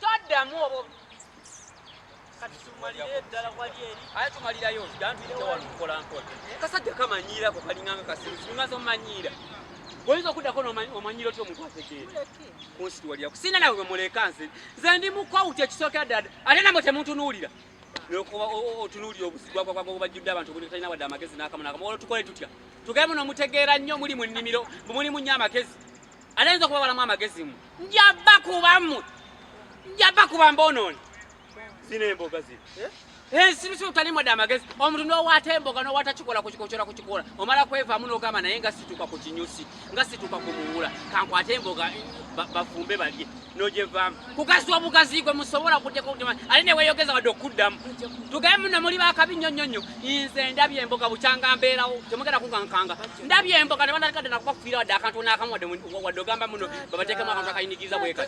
toddamu obo kati tumalire ddala wali eri aye tumalirayo dantuyitewalumukola mpola kasajja kamanyiirako kalinganga kasiru singa zomanyiira oyinza okuddako nomanyira otya omuntu ategeera kunsitu waliyako sina nawe bwemuleka nze nze ndi mukwawuti ekisookera ddala ate namwe temuntunuulira nokuba otunuulira obuzigwagwagwagwagwajjudde abantu obuli talina wadde amagezi n'akamu n'akamu olwo tukole tutya tugemu nomutegeera nnyo muli mu nnimiro mulimu nnyo amagezi Ate nze okubabalamu amagezi mu. Nja bakuba mu. Nja bakuba mbonooni. Zino emboga zino. Eh? ensibi si utali mwada amagezi omuntu nowata emboga nowata kikola kukikocola kukikola omala kwevamu nogamba naye nga situka ku kinyusi nga situka ku muwula kankwate emboga bafumbe balye nojevaamu kugazi obugazi gwe musobola kuteka okutema ali neweyogeza wadde okuddamu tugaye muno muli bakabi nnyo nnyo nnyo nze ndabye emboga bukyanga mbeerawo temugenda kukankanga ndabye emboga ne banakadde nakubafiira wadde akantu naakamu wadde ogamba muno babateekemu akantu akayinigiriza bweka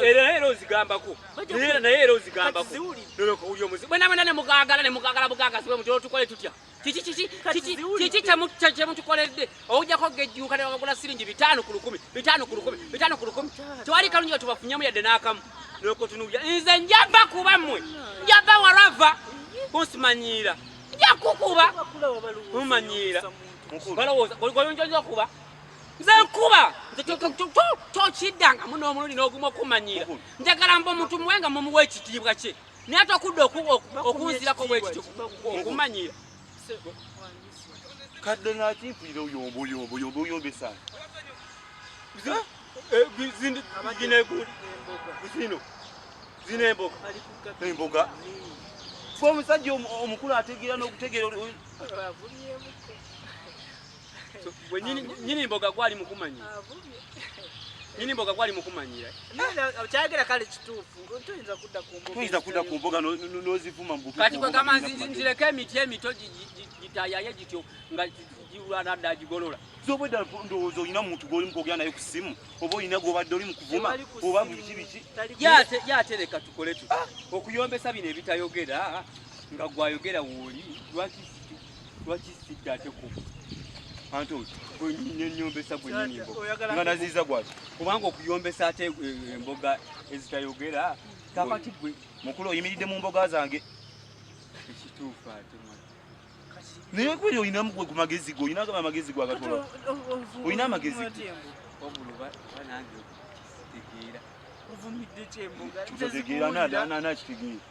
era ozigambako naye era ozigambako bwenamwena ne mugagala ne mugagala bugagasi bwe mutyo otukole tutya kiki kiki kiki kiki kyemutukoledde owujjako gejjuuka ne babagula siringi bitaano ku lukumi bitaano ku lukumi bitaano ku lukumi tewali kalungi batubafunyamu yadde n'akamu nokotunubya nze njava kuba mmwe njava warava kunsimanyiira njakukuba mumanyiira balowooza goyonjonja okuba nze nkuba tokiddangamu n'omulundi n'ogumu okumanyiira njagala mba omuntu muwe nga mumuwa ekitiibwa kye naye tokudde okunzirako bwekityo okumanyira kadde nakimpulira oyomboyomboyomboyombesa zino zino emboga emboga fe omusajja omukulu ategeera n'okutegeera Gwe nyini mboga gwali mukumanya. Nyini mboga gwali mukumanyira. Kyagera kale kituufu. Tuyinza kudda ku mboga. Tuyinza kudda ku mboga n'ozivuma mbuku. Kati gwe gamba nzireko emiti emito gitayaye gityo nga giwulana dda gigolola. Zoba edda ndowooza olina muntu gw'oli mu kwogera naye ku ssimu oba olina gw'obadde oli mu kuvuma oba biki biki. Yatereka tukole tuti ah! okuyombesa bino ebitayogera nga gwayogera wooli lwaki lwaki sidda ate ku anti gwenyombesa gwenyinimbo nga naziiza gwaki kubanga okuyombesa ate eh, eh, emboga ezitayogera kakati gwe mukulu oyimiridde mu mboga zange ekituufu ate naye kweri olinamu gwe ku magezi ge olina gaba amagezi gwe agatola olina amagezi kitegeera nakitegeera